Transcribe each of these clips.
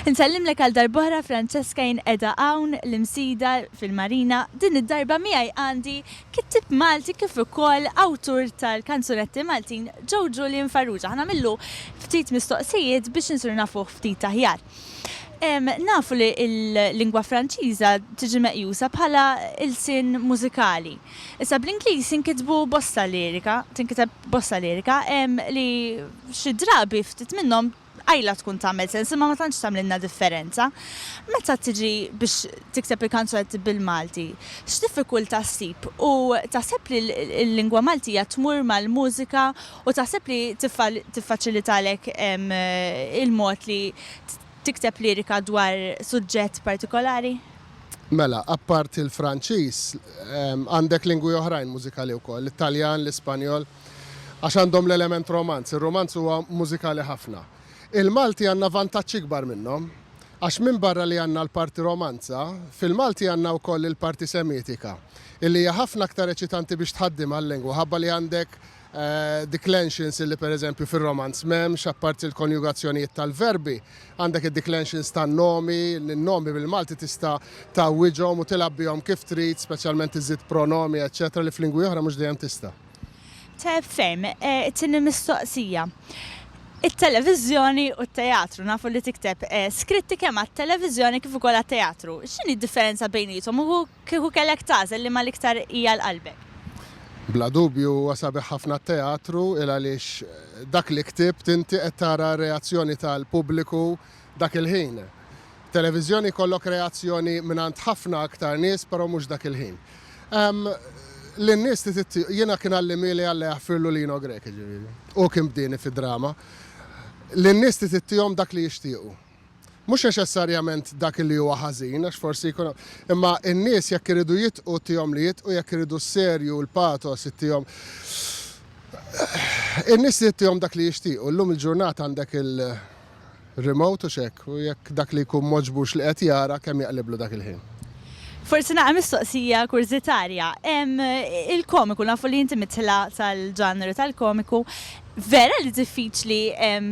Insellimlek għal darb'oħra Francesca jien qiegħda hawn l-Imsida fil-Marina. Din id-darba miegħi għandi kittib Malti kif ukoll awtur tal-kanzunetti Maltin Joe Julian Farrugia. Ħanamillu ftit mistoqsijiet biex insiru nafuh ftit aħjar. Nafu li l-lingwa Franċiża tiġi meqjusa bħala ilsien mużikali. Issa bl-Ingliż jinkitbu bosta lirika, tinkiteb bosta lirika, li xi drabi ftit minnhom qajla tkun tagħmel sens imma ma tantx tagħmlilna differenza. Meta tiġi biex tikteb il-kanzunetti bil-Malti, x'diffikultà ssib u taħseb li l-lingwa Maltija tmur mal-mużika U taħseb li tiffaċilitalek il-mod li tikteb lirika dwar suġġett partikolari? Mela, apparti l-Franċiż, għandek lingwi oħrajn mużikali wkoll, l-Italjan, l-Ispanjol, għax għandhom l-element romanz. Ir-romanz huwa mużikali ħafna. Il-Malti għandna vantaġġ ikbar minnhom, għax minbarra li għandna l-parti romanza, fil-Malti għandna wkoll il-parti semitika, illi hija ħafna aktar eċitanti biex tħaddim għal-lingwa, ħabba li għandek declensions li pereżempju fir-Romanz m'hemmx, apparti l-konjugazzjonijiet tal-verbi, għandek id-declensions tan-nomi, li n-nomi bil-Malti tista' tgħawwiġhom u tilgħab bihom kif trid, speċjalment iżżid pronomi, eċċetera li f'lingwi oħra mhux dejjem tista'. Tajjeb ferm. It-tieni mistoqsija. It-televiżjoni u t-teatru nafu li tikteb skritti kemm għat-televiżjoni kif ukoll għat-teatru. X'inhi d-differenza bejniethom u Kieku kellek tagħżel liema l-iktar hi għal qalbek? Bla dubju huwa sabiħ ħafna t-teatru il għaliex dak li ktibt inti qed tara r-reazzjoni tal-pubbliku dak il-ħin. Televiżjoni jkollok reazzjoni mingħand ħafna aktar nies però mhux dak il-ħin. Ehm, lin-nies trid jiena kien għallimieli Alla jaħfirlu Lino Grech jiġifieri. Hu kien bdieni fid-drama. Lin-nies trid ittihom dak li jixtiequ. Mhux neċessarjament dak li huwa ħażin, għax forsi jkun hemm. Imma n-nies jekk iridu jitqu tihom li jitqu, jekk iridu s-serju, l-patos ittihom. In-nies li ittihom dak li jixtiequ, llum il-ġurnata għandek il-remote u x'hekk, u jekk dak li jkun m'għoġbux li qed jara kemm jaqliblu dak il-ħin. Forsi nagħmel mistoqsija kurżitarja. Hemm il-komiku, nafu li inti mit-tla tal-ġanru tal-komiku, Vera li diffiċli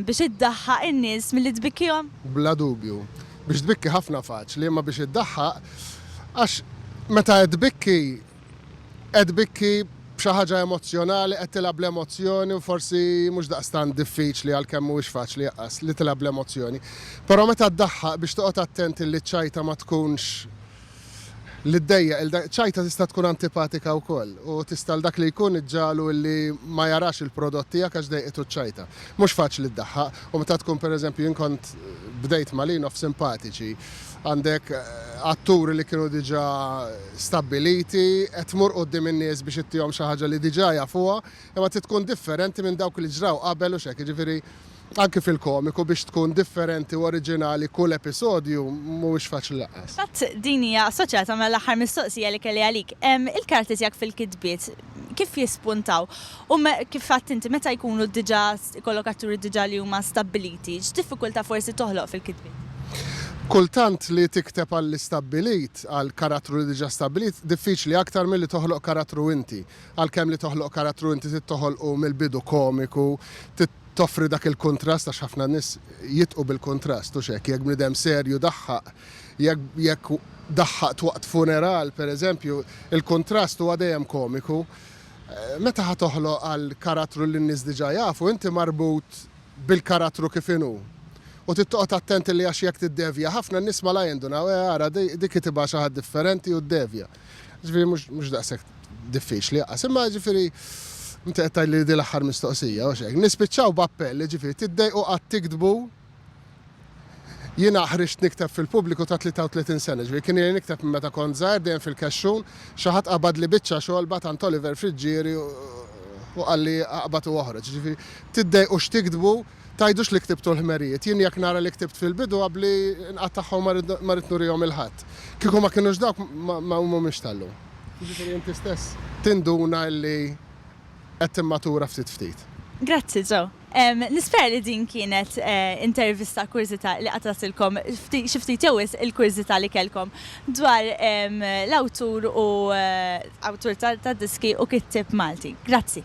biex iddaħħaq in-nies milli tbikkihom? Bla dubju. Biex tbikki ħafna faċli, imma biex iddaħħaq, għax meta qed tbikki, qed tbikki b'xi ħaġa emozzjonali, qed tilgħab bl-emozzjoni u forsi mhux daqstant diffiċli għalkemm mhuwiex faċli li tilgħab bl-emozzjoni. Però meta ddaħħaq biex toqgħod attent illi ċ-ċajta ma tkunx. li ddejjaq lil dak, ċajta tista' tkun antipatika wkoll u tista' għal dak li jkun iġġagħlu li ma jarax il-prodott tiegħek għax dejqitu ċ-ċajta. Mhux faċli ddaħħaq u meta tkun pereżempju jien kont bdejt ma' Lin of Simpatiċi, għandek atturi li kienu diġà stabbiliti, qed tmur quddiem in-nies biex ittihom xi ħaġa li diġà jafuha, imma trid tkun differenti minn dawk li ġraw qabel u x'hekk, jiġifieri Anki fil-komiku biex tkun differenti u oriġinali kull episodju mhuwiex faċli laqqas. Fil-fatt din hija assoċjata mal-aħħar mistoqsija li kelli għalik. Il-karattri tiegħek fil-kitbiet kif jispuntaw? U kif għedt inti, meta jkunu diġà ikollok atturi diġà li huma stabbiliti, x'diffikultà forsi toħloq fil-kitbiet? Kultant li tikteb għall-istabbilit, għal karattru li diġà stabbilit, diffiċli aktar milli toħloq karattru inti. Għalkemm li toħloq karattru inti trid toħolqu mill-bidu komiku, toffri dak il-kuntrast għax ħafna nies jitqu bil-kuntrast, hux hekk? Jekk bniedem serju daħħaq, jekk jekk daħħaqt waqt funeral, pereżempju, il-kuntrast huwa dejjem komiku. Meta ħa toħloq għal karattru li n-nies diġà jafu, inti marbut bil-karattru kif inhu. U trid toqgħod attent li għax jekk tiddevja ħafna, n-nies malajr jindunaw, eh ara dik hi tibgħa xi ħadd differenti u ddevja. Ġifieri mhux mhux daqshekk diffiċli aqqas, imma ġifieri inti qed tgħid li di l-aħħar mistoqsija u xejn. Nispiċċaw b'appell, ġifieri tiddejqu qatt tiktbu Jiena ħriġt nikteb fil-pubbliku ta' 33 sena, ġifieri kien ili nikteb minn meta kont żgħir dejjem fil-kexxun, xi ħadd qabadli biċċa xogħol bagħat għand Oliver Friggieri u qalli aqbad u oħroġ. Ġifieri tiddejqu x'tiktbu, Tgħidux li ktibtu l-ħmerijiet. Jien jekk nara li ktibt fil-bidu għabli nqattagħha u ma rrid ma rrid nurihom 'il ħadd. Kieku ma kinux dawk ma ma mhumiex tal-lum. Jiġifieri inti stess tinduna illi qed timmatura ftit ftit. Grazzi Joe. Ehm, nispera li din kienet intervista kurżità li qatgħatilkom ftit xi ftit jew wisq il-kurżità li kellkom dwar ehm l-awtur u awtur ta' ta' diski u kittieb Malti. Grazzi.